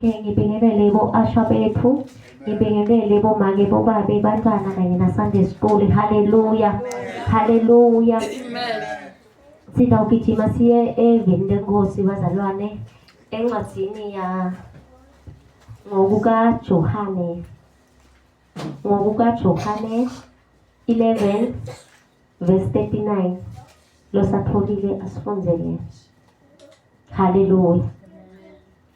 ngibingelele bo-asha bethu ngibingelele bomake bobabe bantwana kanye na-sunday school haleluya haleluya sidawugijima siye eveni lenkosi bazalwane encwadini ya ngokukajohane ngokukajohane 11 verse 39 losatholile asifundele haleluya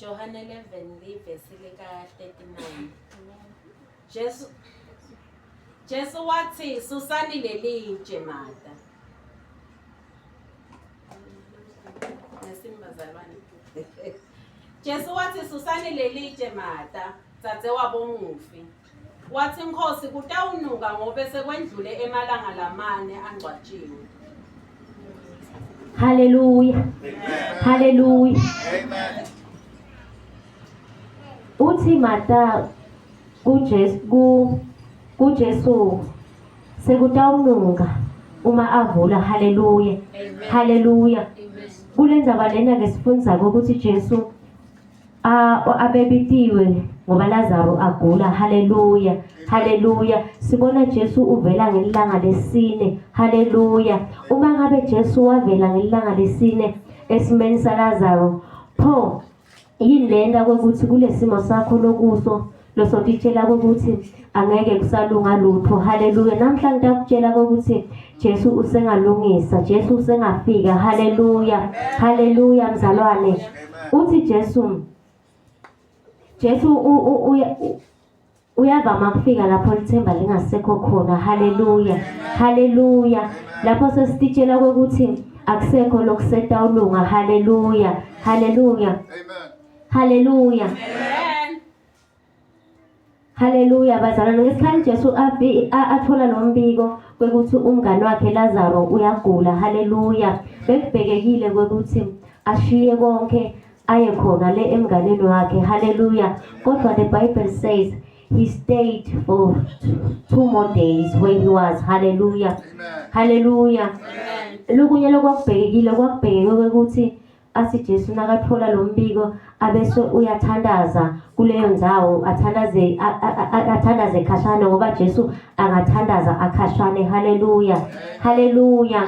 Johane 11 livesi lika-39 Jesu Jesu wathi susani leli nje mata nesimbazalwane Jesu wathi susani leli nje mata dzadzewabo mufi Wathi inkosi kutawunuka ngobe sekwendlule emalanga lamane angcwatshiwe. Haleluya. Haleluya. Amen. Uthi Martha kuJesu ku kuJesu sekutawunuka uma avula haleluya. Haleluya. Kule ndaba lena ke sifundza ukuthi Jesu Ah, o abebitiwe ngoba Lazaro agula. Haleluya. Haleluya. Sibona Jesu uvela ngelanga lesine. Haleluya. Uma ngabe Jesu wavela ngelanga lesine esimeni saLazaro, pho yini lenta ukuthi kulesimo sakho lokuso losonditshela kokuthi angeke kusalunga lutho haleluya namhla ngidakutshela kokuthi Jesu usengalungisa Jesu usengafika haleluya haleluya mzalwane uthi Jesu Jesu uyavama kufika lapho lithemba lingasekho khona haleluya haleluya lapho sesititshela kokuthi akusekho lokusetawulunga haleluya haleluya haleluya Haleluya bazalwane, ngesikhathi uJesu athola lo mbiko kwekuthi umngane wakhe Lazaro uyagula, haleluya, bekubhekekile kwekuthi ashiye konke aye khona le emnganeni wakhe, haleluya. Kodwa the Bible says he stayed for two more days where he was, haleluya, haleluya. Lukunye lokwakubhekekile kwakubhekeke kwekuthi athi Jesu nakathola lo mbiko abese uyathandaza kuleyo ndawo athandaze athandaze khashane ngoba Jesu angathandaza akhashane haleluya haleluya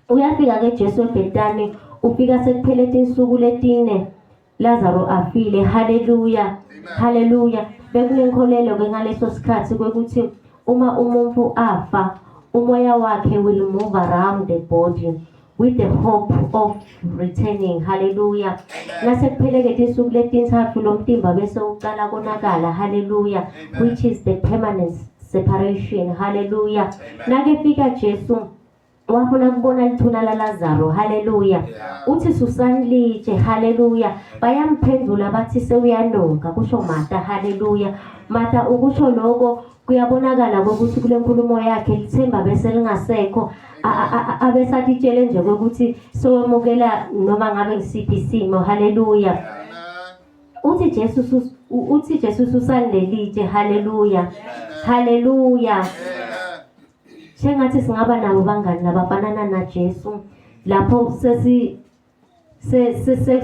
uyafika ke Jesu ebhetani ufika sekuphele insuku letine Lazaro afile haleluya haleluya bekunenkolelo ke ngaleso sikhathi kwekuthi uma umuntu afa umoya wakhe will move around the body with the hope of returning haleluya nasekuphelekethe isuku letintsatfu lomtimba bese ucala konakala haleluya which is the permanent separation haleluya nakefika jesu wafuna kubona lithuna lalazaro haleluya uthi susani litshe haleluya bayamphendula bathi sewuyanuka kusho mata haleluya mata ukusho loko Kuyabonakala kokuthi kule nkulumo yakhe lithemba bese lingasekho abesatitshele nje kokuthi sowemukela noma ngabe ngisiphi isimo haleluya uthi Jesu uthi Jesu usandelitshe haleluya haleluya sengathi singaba nabo bangani labafanana naJesu lapho sesi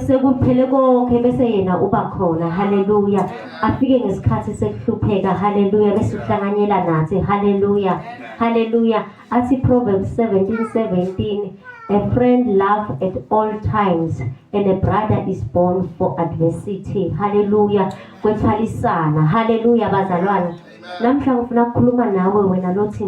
sekuphele konke bese yena uba khona haleluya afike ngesikhathi sekuhlupheka haleluya bese uhlanganyela nathi haleluya haleluya athi proverbs 17:17 a friend love at all times and a brother is born for adversity haleluya kwethwalisana haleluya bazalwana namhla ngifuna ukukhuluma nawe wena lothi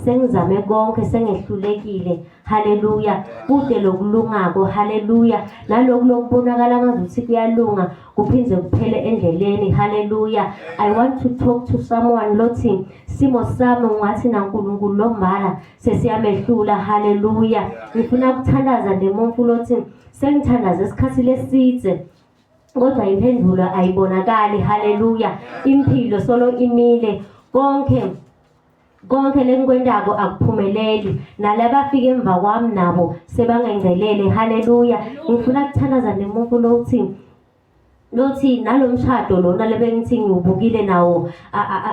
sengizame konke sengehlulekile haleluya kude lokulungako haleluya naloku lokubonakala ngazuthi kuyalunga kuphinde kuphele endleleni haleluya i want to talk to someone lothi simo sami ungathi nankulunkulu lombala sesiyamehlula haleluya ngifuna ukuthandaza ndemuntu lothi sengithandaza isikhathi lesidze kodwa impendulo ayibonakali haleluya impilo solo imile konke Konke lengikwentako akuphumeleli. Nalaba afike emva kwami nabo sebangengcelele. Haleluya. Ngifuna kuthandaza nemuntu lothi lothi nalomshado lona lebengithi ngiwubukile nawo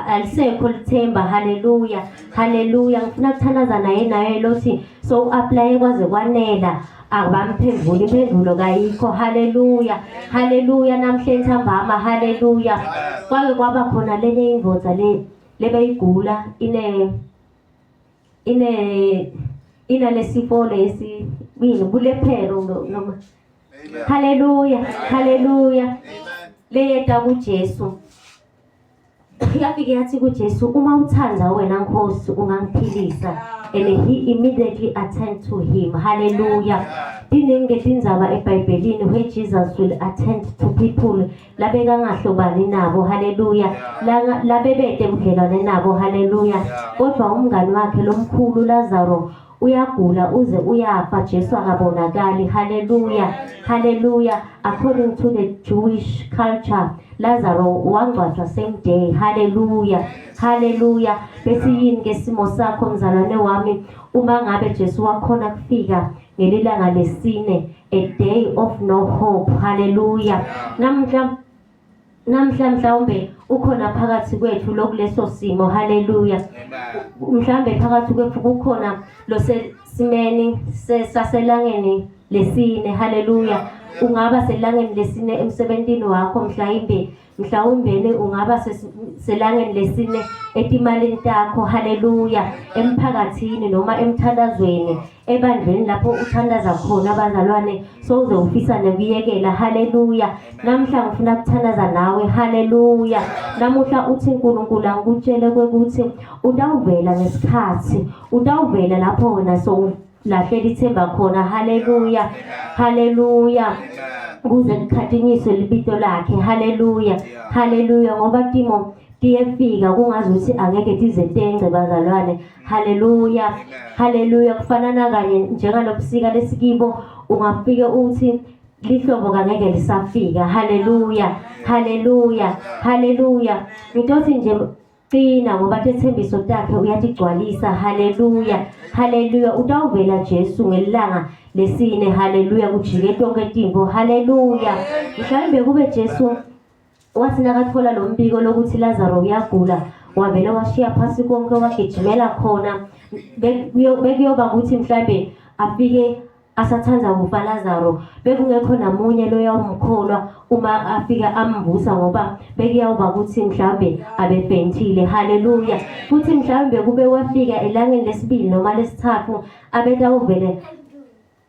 alisekho lithemba haleluya haleluya ngifuna kuthandaza naye naye lothi so uaplaye kwaze kwanela abamphendula impendulo kayikho haleluya haleluya namhlanje ntambama haleluya kwake kwaba khona lele indoda le lebeyigula ine ine inalesifo lesi yini bulephero noma haleluya haleluya leyeta kuJesu yafike yathi kuJesu uma uthanda wena Nkosi ungangiphilisa and he immediately attend to him haleluya tiningi tindzaba ebhayibhelini where Jesus will attend to people labekangahlobani nabo haleluya labebede budlelwane nabo haleluya kodwa umngani wakhe lomkhulu lazaro uyagula uze uyafa jesu akabonakali haleluya haleluya according to the jewish culture lazaro wangcwatshwa same day haleluya haleluya besiyini ke simo sakho mzalwane wami uma ngabe jesu wakhona kufika ngelilanga lesine a day of no hope haleluya namhla namhla mhlawumbe ukhona phakathi kwethu lokuleso simo haleluya mhlawumbe phakathi kwethu kukhona losesimeni sesaselangeni lesine haleluya ungaba selangeni lesine emsebentini wakho mhlawumbe mhlawumbeni ungaba selangeni lesine etimalini takho haleluya emphakathini noma emthandazweni ebandleni lapho uthandaza khona abazalwane sowuze ufisa nokuyekela haleluya namhla ngifuna kuthandaza nawe haleluya namuhla uthi uNkulunkulu angikutshele ukuthi utawuvela ngesikhathi utawuvela lapho wena so lahlela ithemba khona haleluya haleluya kuze likhathinyiswe libito lakhe haleluya haleluya ngoba timo tiyefika kungazi ukuthi angeke tizentence bazalwane haleluya haleluya kufanana kanye njengalobusika lesikibo ungafike uthi lihlobo kangeke lisafika haleluya haleluya haleluya ngitothi nje Qina ngoba tethembiso takhe uyatigcwalisa. Haleluya. Haleluya. Utawuvela Jesu ngelanga lesine. Haleluya. Kujike tonke timbo. Haleluya. Mhlawumbe kube Jesu wathi nakathola lo mbiko lokuthi Lazaro uyagula wavele washiya phasi konke wagijimela khona bekuyoba ukuthi mhlawumbe afike asathanda kufa Lazaro bekungekho namunye loyawumkholwa uma afika amvusa ngoba bekuyawuba ukuthi mhlambe abefentile haleluya futhi mhlambe kube wafika elangeni lesibili noma lesithathu abetawuvele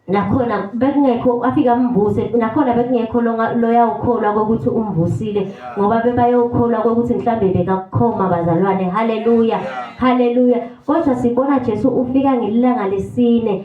nakhona bekungekho afika amvuse nakhona bekungekho loyawukholwa kokuthi umvusile ngoba bebayokholwa kokuthi mhlambe bekakukhoma bazalwane haleluya haleluya kodwa sibona Jesu ufika ngelanga lesine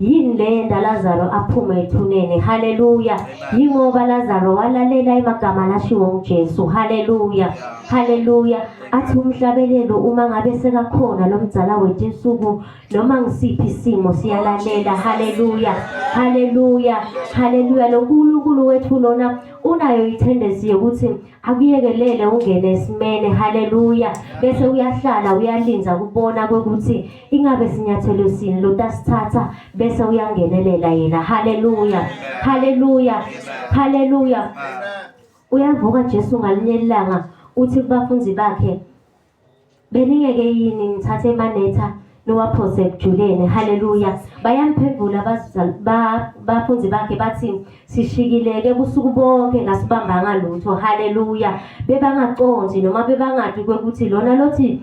yini le yenda lazaro aphume ethuneni haleluya yingoba lazaro walalela emagama lashiwo ngujesu haleluya haleluya athi umhlabelelo uma ngabe sekakhona lo mdzala wethu insuku noma ngisiphi isimo siyalalela haleluya haleluya haleluya lo nkulunkulu wethu lona unayo ithendensi yokuthi akuyekelele ungene esimene haleluya bese uyahlala uyalinza kubona kokuthi Ingabe sinyathelo sini lotasithatha bese uyangenelela yena. Haleluya. Haleluya. Haleluya. Uyavuka Jesu ngalinye ilanga uthi kubafundi bakhe beningeke yini ngithathe emanetha niwaphose ekujuleni haleluya bayamphevula bafundi bakhe bathi sishikileke busuku bonke ngasibambanga lutho haleluya bebangaconzi noma bebangadi kwekuthi lona lothi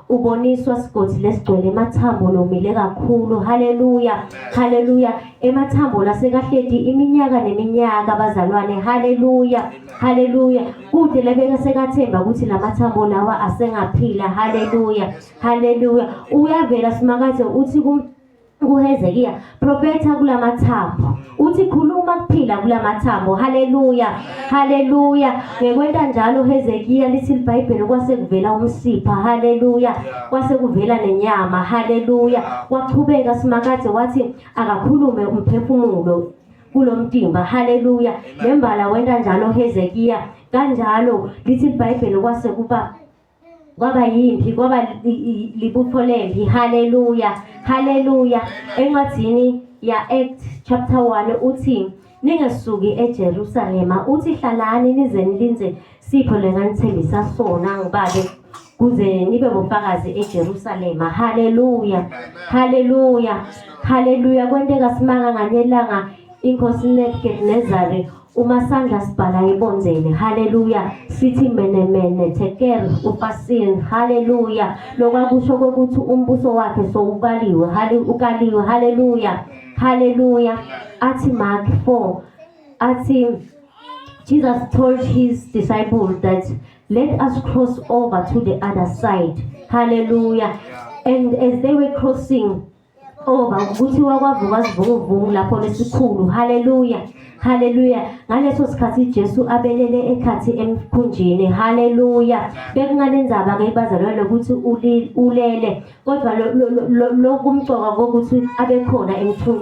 uboniswa sigodi lesigcwele emathambo lomile kakhulu haleluya haleluya emathambo lasekahledi iminyaka neminyaka bazalwane haleluya haleluya kude lebeka sekathemba ukuthi lamathambo lawa asengaphila haleluya haleluya uyavela simakade uthi kuHezekiya, profetha kulamathambo. Uthi khuluma kuphila kulamathambo. Haleluya. Haleluya. Ngekwenta njalo uHezekiya lithi iBhayibheli kwase kuvela umsipha. Haleluya. Kwase kuvela nenyama. Haleluya. Waqhubeka simakade wathi akakhulume umphefumulo kulomtimba. Haleluya. Nembala wenta njalo uHezekiya. Kanjalo lithi iBhayibheli kwase kuba kwaba yimpi kwaba libutho lempi haleluya haleluya encwadini ya-act chapter 1 uthi ningesuki ejerusalema uthi hlalani nize nilinze sipho lenganithembisa sona ngibabe kuze nibe bofakazi ejerusalema haleluya haleluya haleluya kwenteka simanga nganelanga inkosi nebukadnezari umasandla sibhala ibonzeni haleluya sithi menemene teker ufasin haleluya lokwakusho kokuthi umbuso wakhe sowubaliwe ukaliwe haleluya haleluya athi mark 4 athi jesus told his disciples that let us cross over to the other side haleluya and as they were crossing Oba kuthiwa kwavuka sivunguvungu lapho lesikhulu. Haleluya. Haleluya. Ngaleso sikhathi Jesu abelele ekhathi emkhunjini. Haleluya. Bekunganenzaba ke bazalwa lokuthi ulele kodwa lokumcoka kokuthi abekhona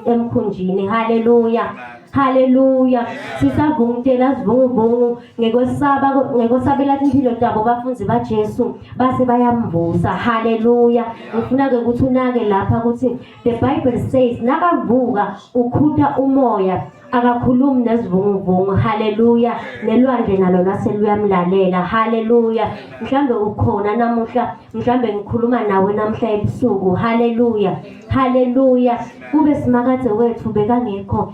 emkhunjini. Haleluya. Haleluya. Sisavungutela sivunguvungu ngekwesaba ngekwesabela impilo tabo bafunzi baJesu base bayamvusa haleluya ngifuna ke ukuthi unake lapha ukuthi the bible says nakavuka ukhutha umoya akakhulumi nezivunguvungu haleluya nelwandle nalo lase luyamlalela haleluya mhlambe ukhona namuhla mhlambe ngikhuluma nawe namuhla ebusuku haleluya haleluya kube simakade wethu bekangekho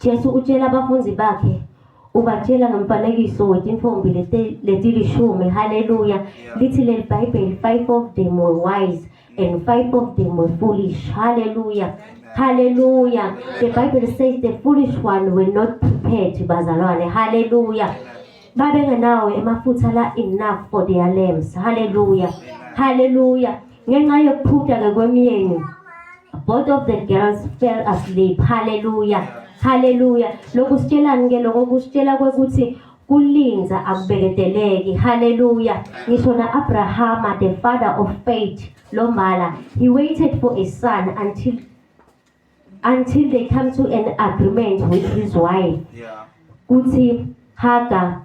Jesu utshela abafundi bakhe ubatshela ngomfanekiso wetimfombi letilishumi haleluya lithi leli bhayibheli five of them were wise and five of them were foolish haleluya haleluya the bible says the foolish one were not prepared bazalwane haleluya babengenawo emafutha la enough for their lamps haleluya haleluya Ngenxa yokuphutaka kwemyeni, both of the girls fell asleep. Hallelujah. Hallelujah. Lokhu sitshelani ke lokho kusitshela kwekuthi kulinza akubekedeleki. Hallelujah. Ngisho na Abrahama the father of faith lombala he waited for a son until until they come to an agreement with his wife. Yeah. Kuthi Hagar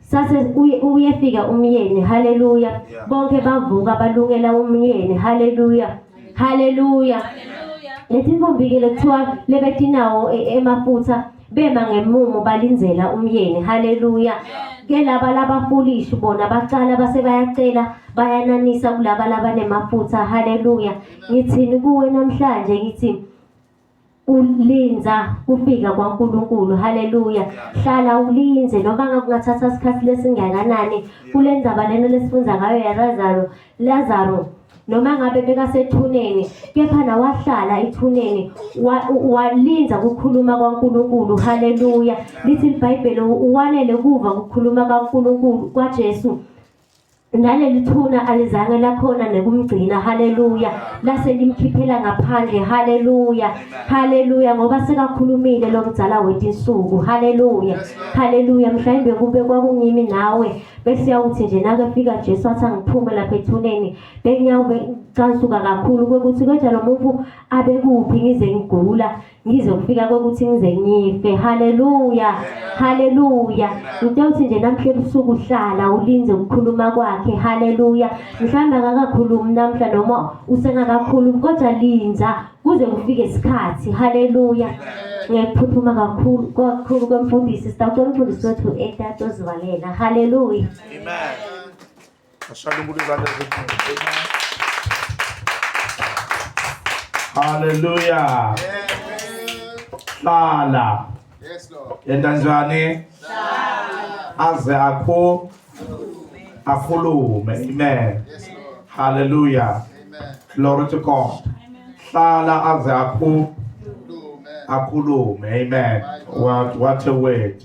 sase uyefika umyeni haleluya bonke bavuka balungela umyeni haleluya haleluya lethi intombi ke lekuthiwa lebetinawo e, emafutha bema ngemumo balinzela umyeni haleluya ke laba labafulishi bona bacala base bayacela bayananisa kulaba labanemafutha haleluya ngithini kuwe namhlanje ngithi ulinda kufika kwaNkulunkulu haleluya hlala ulinze noma ngakungathatha isikhathi lesingakanani kule ndaba lena lesifunda ngayo yaLazaro Lazaro noma ngabe bekasethuneni kepha nawahlala ethuneni walinda kukhuluma kwaNkulunkulu haleluya lithi iBhayibheli uwanele kuva kukhuluma kwaNkulunkulu kwaJesu naleli thuna alizange lakhona nekumgcina haleluya lase limkhiphela ngaphandle haleluya haleluya ngoba sekakhulumile lo mdzala wetinsuku haleluya haleluya mhlawumbe kube kwakungimi nawe bese yawuthi nje nakefika Jesu athi angiphume lapha ethuneni bengiyawube cansuka kakhulu kwekuthi kodwa lo muntu abekuphi ngize ngigula ngizokufika kokuthi ngize ngife haleluya haleluya ngitewuthi nje namhla ebusuku uhlala ulinze ukukhuluma kwakhe haleluya mhlawumbe akakakhulumi namhla noma usengakakhulumi kodwa linza kuze kufike isikhathi haleluya ngiyakuphuthuma kakhulu kakhulu kwemfundisi sitawuthi umfundisi wethu etatozivalela haleluya Ashaya umuntu izandla ezinkulu. Hallelujah. Hlala. Yes Lord. Yenta njani? Hlala. Aze akho akhulume. Amen. Yes Lord. Hallelujah. Amen. Glory to God. Amen. Hlala aze akho akhulume. Amen. What what a word.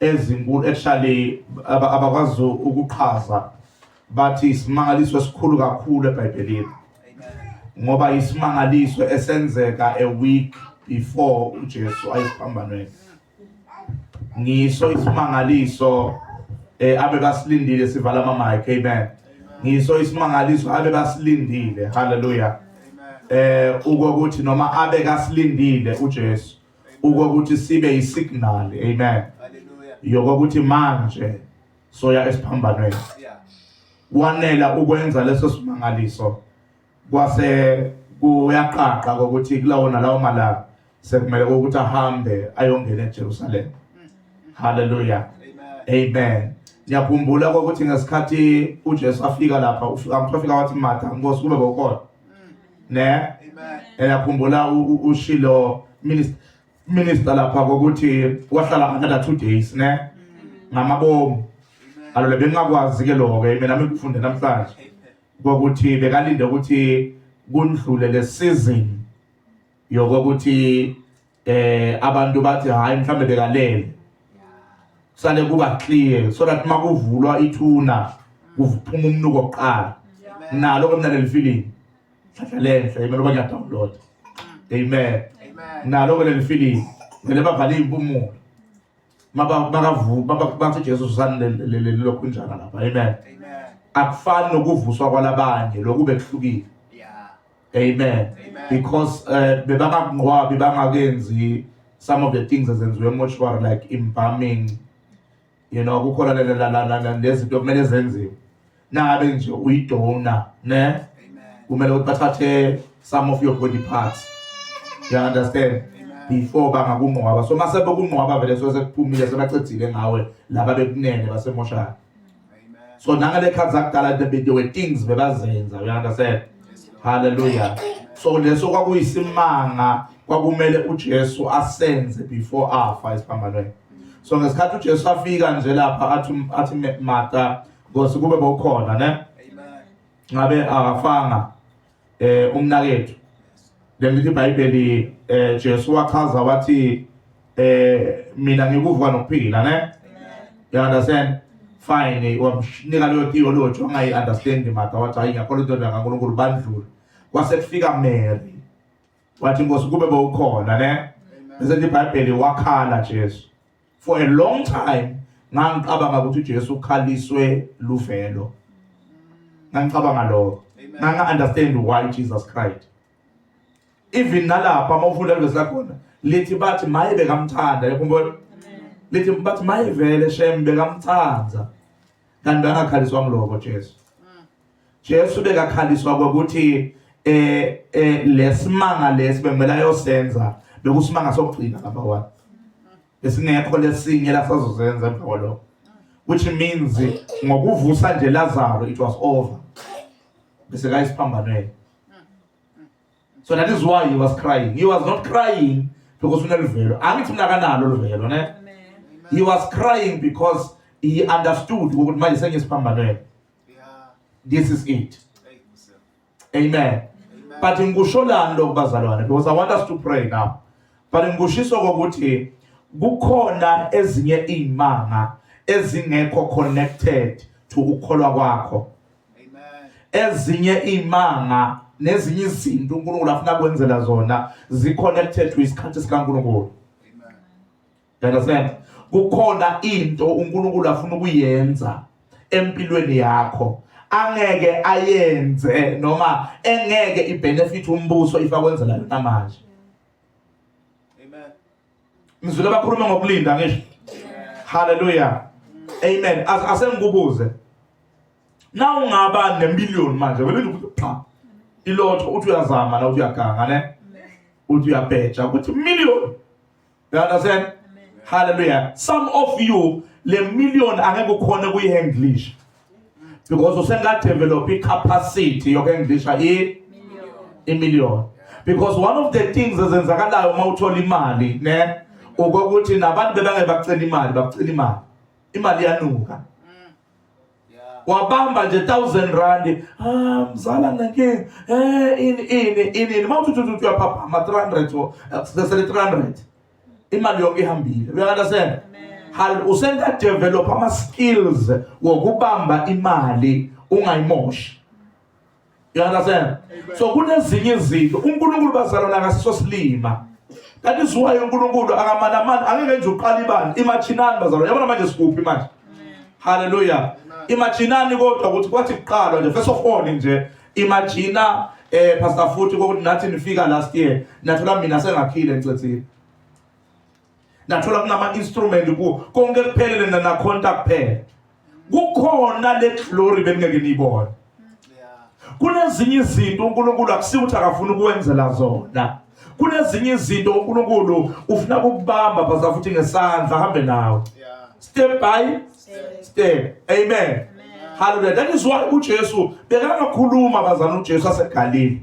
ezinkulu ehlale abakwazi ukuqhaza bathi isimangaliso esikhulu kakhulu eBhayibhelini ngoba isimangaliso esenzeka a week before uJesu ayesiphambanweni ngiso isimangaliso eh abe basilindile sivala ama mic amen ngiso isimangaliso abe basilindile haleluya eh ukokuthi noma abe kasilindile uJesu ukokuthi sibe yisignal amen yokuthi manje soya esiphambanweni wanela ukwenza leso simangaliso kwase kuyaqaqa ukuthi kulawo nalawo malanga sekumele ukuthi ahambe ayongena eJerusalem haleluya amen ngiyakhumbula ukuthi ngesikhathi uJesu afika lapha ufika mfika wathi Martha nkosi kube kokona ne eyakhumbula ushilo minister minister lapha kokuthi wahlala another two days ne mm. ngamabomu alole bengakwazi ke lokho ke mina ngikufunde namhlanje kokuthi bekalinde ukuthi kundlule le season yokuthi eh abantu bathi hayi mhlambe bekalele sale kuba clear so that makuvulwa ithuna kuphuma umnuko oqala nalo ke mina leli feeling hlahla lenhle imelo ba ngiyadownload amen nalo ke leli feeling ngele bavale impumulo maba bakavu baba bathi Jesu sani leli lokho njana lapha amen akufani nokuvuswa kwalabanye lokube kuhlukile Amen. Amen. Because uh, bebangakunqwabi bangakenzi some of the things ezenziwe emoshwari like embalming you know kukhona lezinto kumele zenziwe nabe nje uyidona ne kumele ukuthi bathathe some of your body parts you understand before bangakunqwaba so mase bokunqwaba vele so sekuphumile sebacedzile ngawe laba bekunene basemoshana so nangale khathi zakudala there were things bebazenza you understand hallelujah so leso kwakuyisimanga kwakumele uJesu asenze before afa esiphambanweni so ngesikhathi uJesu afika nje lapha athi athi Martha ngosi kube bokhona ne ngabe akafanga eh umnakethu lemithi iBhayibheli eh Jesu wachaza wathi eh mina ngikuvuka nokuphila ne you understand fine wamnika leyo theology ongayi understand maka wathi hayi ngiyakholwa into kaNkulunkulu bandlula kwase kufika Mary wathi inkosi kube bowukhona ne bese iBhayibheli wakhala Jesu for a long time ngangicabanga ukuthi uJesu ukhaliswe luvelo ngangicabanga lokho nganga understand why Jesus cried even nalapha uma ufunda lezi lakhona lithi bathi maye bekamthanda yakhumbula lithi bathi maye vele shem bekamthanda kanti angakhaliswa ngiloko Jesu Jesu bekakhaliswa ukuthi eh eh lesimanga lesi bekumele ayosenza bekusimanga sokugcina lapha wa esingekho lesinye lasazozenza empholo which means ngokuvusa nje Lazaro it was over bese kayisiphambanweni so that is why he was crying he was not crying because unelivelo angithi mina kanalo livelo ne he was crying because he understood ukuthi manje sengiyisiphambanweni Yeah. This is it. Amen. But ngikusholani lokho bazalwane because I want us to pray now. But ngikushiso ukuthi kukhona ezinye izimanga ezingekho connected to ukukholwa kwakho. Amen. Ezinye izimanga nezinye izinto uNkulunkulu afuna kwenzela zona zi connected to isikhathi sikaNkulunkulu. You understand? Kukhona into uNkulunkulu afuna ukuyenza empilweni yakho angeke ayenze noma engeke ibenefit umbuso ifakwenzela yona manje. Amen. Ngizwile abakhuluma ngokulinda ngisho. Hallelujah. Amen. As asengikubuze. Na ungaba nemillion manje vele ukuthi cha. Ilotho uthi uyazama na uthi uyaganga ne. Uthi uyabheja ukuthi million you understand hallelujah some of you le million angeke ukhone kuyihandlisha because usengadevelop icapacity yokuhandlisha i imillion because one of the things ezenzakalayo uma uthola imali ne ukokuthi nabantu bebange bacela imali bacela imali imali yanuka wabamba nje 1000 rand ah mzala nginenkinga eh ini ini ini mawuthi uthi uyaphaphama 300 sesele 300 imali yonke ihambile uyakandasen hal usenga develop ama skills wokubamba imali ungayimoshi You understand? So kunezinye izinto uNkulunkulu bazalwana akasiso silima. That is why uNkulunkulu akamanamani angeke nje uqala ibani imachinani bazalwana. Yabona manje sikuphi manje? Hallelujah. Imachinani kodwa ukuthi kwathi kuqalwa nje first of all nje imagina eh pastor futhi ukuthi nathi nifika last year nathola mina sengakhile ncethile. nathola kunama-instrument kuwo konke kuphelele nanakhonta kuphela kukhona le glory beningeke niyibone kunezinye izinto unkulunkulu akusiwo ukuthi akafuni ukuwenzela zona kunezinye izinto unkulunkulu ufuna kukubamba baza futhi ngesandla ahambe nawe step by step amen haleluya that is why ujesu bekangakhuluma bazana ujesu asegalile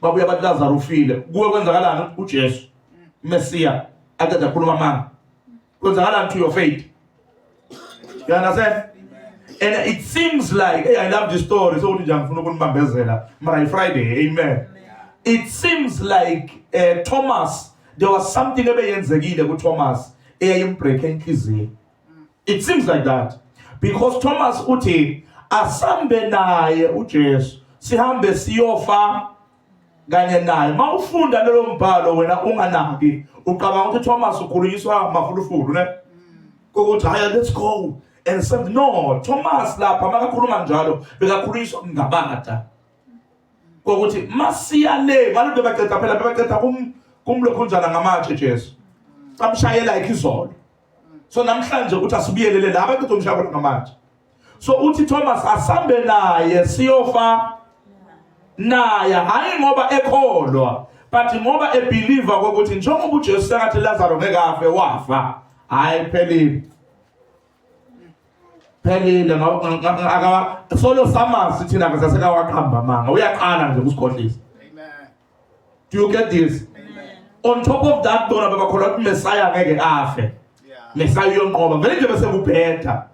babuya bathi lazaro ufile kuwe kwenzakalani ujesu mesiya aqeda khuluma amanga kwenzakalani to your faith you understand and it seems like hey, i love this story sokuthi nje angifuna ukunibambezela mara ifriday amen it seems like uh, thomas there was something ebeyenzekile kuthomas eyayimbreak enhliziyo It seems like that because Thomas uthi asambe naye uJesu sihambe siyofa kanye naye mawufunda lelo mbhalo wena unganaki ucabanga ukuthi Thomas ukhulunyiswa mafulufulu ne ukuthi haya let's go and say no Thomas lapha makakhuluma njalo bekakhulunyiswa ngabada kokuthi masiya le ngalento baqeda phela baqeda kum kumlokhunjana ngamatshe Jesu amshayela ikizolo so namhlanje ukuthi asibiyelele la abantu uzomshaya kodwa ngamanje so uthi Thomas asambe naye siyofa naye hayi ngoba ekholwa but ngoba ebelieve ukuthi njengoba uJesu sekathi Lazaro ngeke afe wafa hayi phelile phelile solo samazi thina ke sasekawaqamba manga uyaqala nje ukusikhohlisa do you get this on top of that bona bebakholwa ukuthi messiah ngeke afe messiah uyonqoba vele nje bese kubheda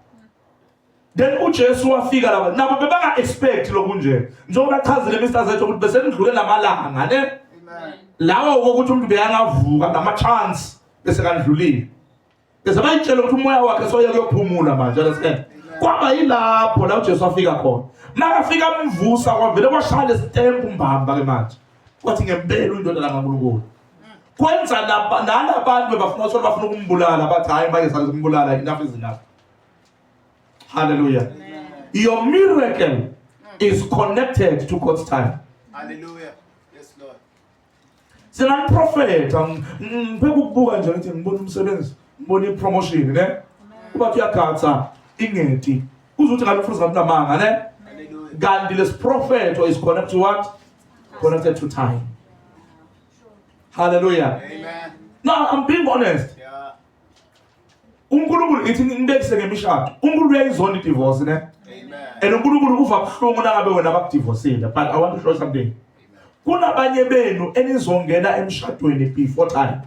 then uJesu wafika lapha nabo bebanga expect lokunje njengoba achazile Mr Zethu ukuthi bese kudlule lamalanga ne lawo ukuthi umuntu beyangavuka ngama chance bese kandlulile Ngizama ngitshela ukuthi umoya wakhe soye kuyophumula manje understand? Kwaba yilapho la uJesu afika khona. Makafika amvusa kwavele kwashaya lesitembu mbamba ke manje. Kwathi ngempela uyindodana kaNkulunkulu. Kwenza laba nalabantu bebafuna ukuthi bafuna ukumbulala bathi hayi manje salimbulala enough is enough. Hallelujah. Your miracle is connected to God's time. Hallelujah. singamprofetha ngiphe ukubuka nje ngithi ngibona umsebenzi ngibona ipromotion ne kuba kuyagatsa ingeti uzuthi ngabe mfundisi ngakunamanga ne kanti lesiprofetho is connected to what connected to time hallelujah amen no i'm being honest uNkulunkulu ithi ngibekise ngemishado uNkulunkulu uyayizonda idivorce ne and uNkulunkulu uva buhlungu nangabe wena bakudivorcile but i want to show something kunabanye benu enizongena emshadweni before time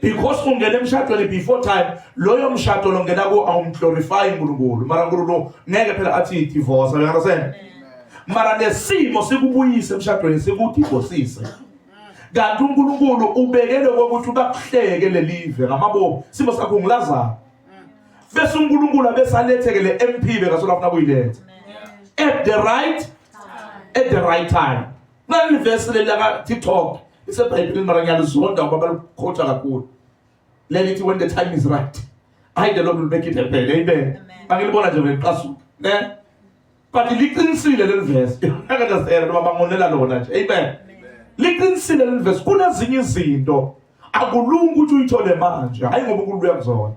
because ungena emshadweni before time loyo mshado longena ku awumglorify uNkulunkulu mara uNkulunkulu ngeke phela athi divorce you understand mara nesimo sikubuyise emshadweni sikudivorcise kanti uNkulunkulu ubekele kokuthi ubakuhleke lelive ngamabomu simo sakho ngilazana bese uNkulunkulu abesaletheke le MP bekasola afuna kuyiletha at the right at the right time nalivesi leli laka TikTok lisebhayibhelini mara ngiyalizonda ngoba balikhotha kakhulu lelithi when the time is right hayi the lord will make it happen amen angilibona nje ngiqasuka ne but liqinisile leli verse akadazela noma bangonela lona nje amen liqinisile leli verse kunezinye izinto akulungi ukuthi uyithole manje hayi ngoba uNkulunkulu uyakuzona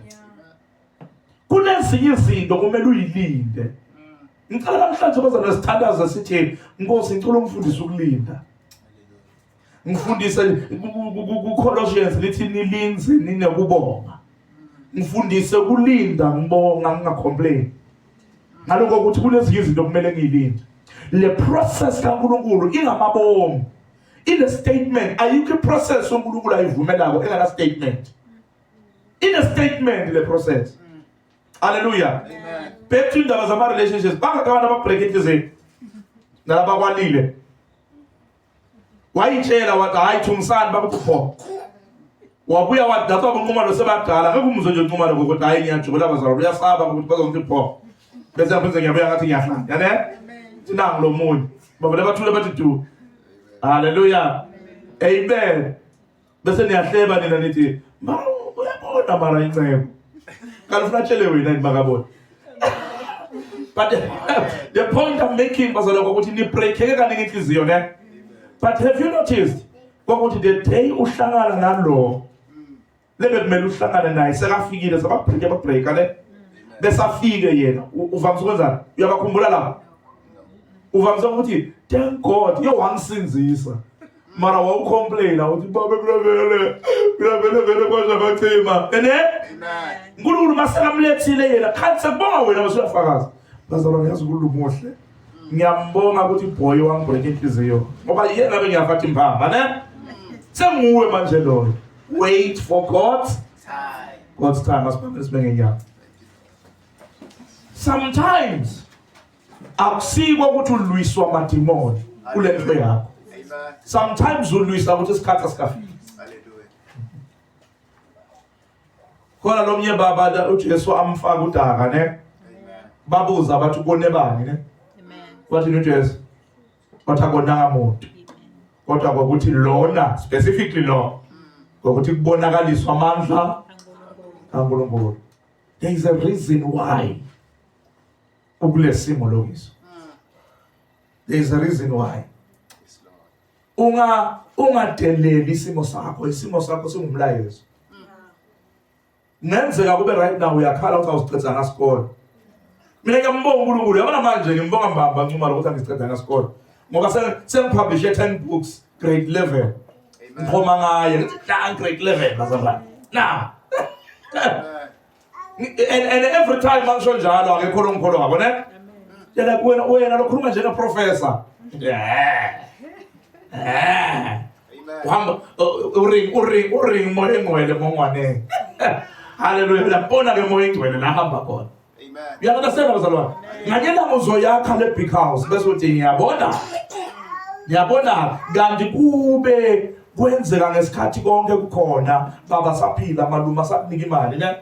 kunezinye izinto kumele uyilinde ngicela namhlanje bazana sithandaza sithi Nkosi ngicela umfundisi ukulinda ngifundise kuColossians lithi nilinze ninekubonga ngifundise kulinda ngibonga ngingacomplain ngaloko ukuthi kunezinye izinto kumele ngiyilinde le process kaNkulunkulu ingamabomu ine statement ayikho iprocess uNkulunkulu ayivumelako engana statement ine statement le process haleluya back to indaba zama relationships bangaka abantu ababreak inhliziyo nalabakwalile wayitshela wathi hayi thungisani bakuphoko wabuya wadatha kunqumalo sebadala ngeke umuzwe nje unqumalo ngokuthi hayi ngiyajubula bazalwa uyasaba ukuthi bazongithi pho bese ngaphinze ngiyabuya ngathi ngiyahlala yane sinangu lo munye bavele bathule bathi du haleluya amen bese niyahleba nina nithi ma uyabona mara incebo kanti ufuna atshele wena yini makabona but the point i'm making bazalwa ukuthi nibreakheke kaningi inhliziyo ne but have you noticed kwakuthi the day uhlangana nalo lebe kumele uhlangane naye sekafikile sababreak ababreaka ne besafike yena uvamise ukwenzani uyabakhumbula lapho uvamise ukuthi thank god yo wangisindisa mara wawucomplaina uthi baba kulavele kulavele vele kwazakacima ene nkulunkulu masekamlethile yena khanti sekubonga wena basuyafakaza bazalwane yazi ukulungu muhle ngiyambonga ukuthi ibhoyi wangibhuleka inhliziyo ngoba yena ngabe ngiyafathi impama ne senguwe manje loyo wait for god god's time asibambe sibe ngenyanga sometimes akusiko ukuthi ulwiswa amadimoni kule nto yakho sometimes ulwisa ukuthi isikhathi asikafiki khona lo mnye baba ujesu amfaka udaka ne babuza bathi konebani ne wathini ujesu wathi akonanga muntu kodwa kwakuthi lona specifically lo ngokuthi kubonakaliswa amandla kaNkulunkulu there is a reason why ukulesimo lokiso there is a reason why unga ungadeleli isimo sakho isimo sakho singumlayezo ngenzeka kube right now uyakhala ukuthi awusiqeda ngasikole mina ngiyambonga uNkulunkulu yabona manje ngimbonga mbamba ncuma lokuthi angiqeda ngasikole ngoba sengipublishe 10 books grade 11 ngiphoma ngaye ngithi la grade 11 bazalwane now and, and every time angisho njalo akekho longikholwa ngabo ne yena wena wena lokhuluma njenge professor yeah yeah uhamba uring uring uring moya engcwele mongwane haleluya lapona ke moya engcwele la hamba khona amen uyalandasela bazalwane nganyela muzoyakha le big house bese uthi ngiyabona ngiyabona kanti kube kwenzeka ngesikhathi konke kukhona baba saphila maluma sakunika imali ne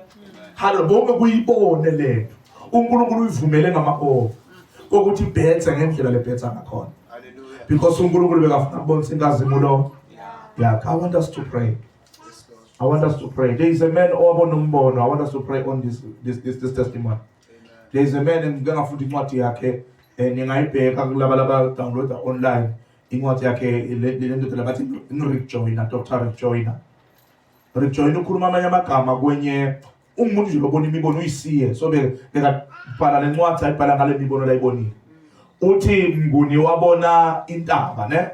halo bonke kuyibone lento uNkulunkulu uyivumele ngamabovu kokuthi bhethe ngendlela lebhetha ngakhona because uNkulunkulu bekafuna kubonisa inkazimulo yeah i want us to pray i want us to pray there is a man owabona umbono i want us to pray on this this this, this testimony there is a man ngike ngafunda incwadi yakhe eh, ningayibheka kulaba laba downloader online incwadi yakhe le ndodana bathi ngirick joyner dr rick joyner rick joyner ukhuluma amanye amagama kwenye ungumuntu nje lobona imibono uyisiye so bekabhala le ncwadi ayibhala ngale mibono layibonile uthi mnguni wabona intaba ne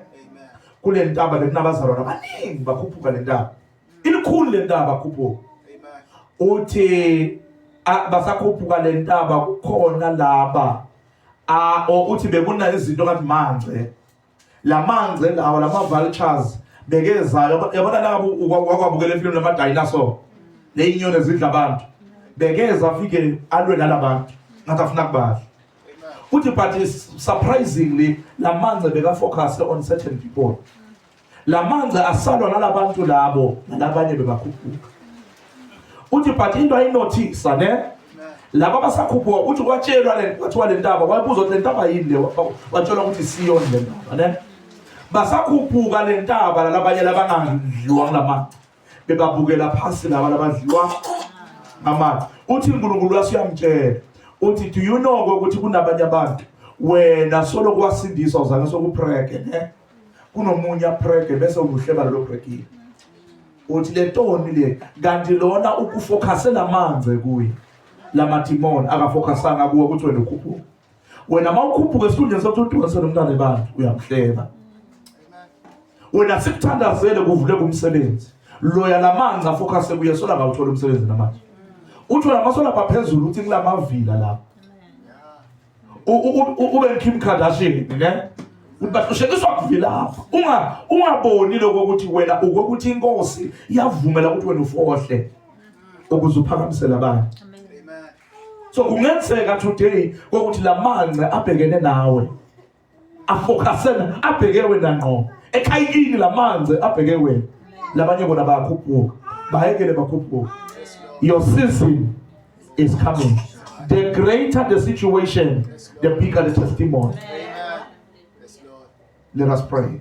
kule ntaba bekunabazalwana baningi bakhuphuka le ntaba ilikhulu le ntaba khuphuka uthi basakhuphuka le ntaba kukhona laba Ah, o uthi bekunayo izinto ngathi manje. Lamanje lawa lama vultures bekezayo yabona la wakwabukela ifilimu lama dinosaur. Leyinyoni ezidla abantu. Bekeza afike alwe nalabantu. Ngathi afuna kubadla. Uthi but surprisingly lamanje beka focus on certain people. la manzi asalwa nalabantu labo nalabanye bebakhuphuka uthi but into ayinothisa ne laba basakhuphuka uthi kwatshelwa le kwathiwa le ntaba wayibuza ukuthi le ntaba yini le watshelwa ukuthi siyoni le ntaba ne basakhuphuka le ntaba lalabanye labangadliwa kula manzi bebabukela phasi laba labadliwa amanzi uthi unkulunkulu waso uyamtshela uthi do you know ukuthi kunabanye abantu wena solo kwasindiswa uzange sokupreke ne kunomunye aprege bese ubuhleba lo brekile uthi le toni le kanti lona ukufocuse lamanze kuye lamadimoni akafocusanga kuwe ukuthi wena ukhuphuka wena uma ukhuphuka esikhundleni sokuthi udonse nomntana ebantu uyamhleba wena sikuthandazele kuvule kumsebenzi loya lamanzi afocuse kuye sola ngawuthola umsebenzi namanje uthola amasola aphezulu uthi kulamavila lapho ube Kim Kardashian ne ukuthi bahlushekiswa kuvilapha unga ungaboni lokho ukuthi wena ukokuthi inkosi yavumela ukuthi wena ufohle ukuze uphakamisele abanye so kungenzeka today ukuthi lamanqe abhekene nawe afokasena abheke wena ngqo ekhayikini lamanzi abheke wena labanye bona bayakhuphuka bayekele bakhuphuka your season is coming the greater the situation the bigger the testimony let us pray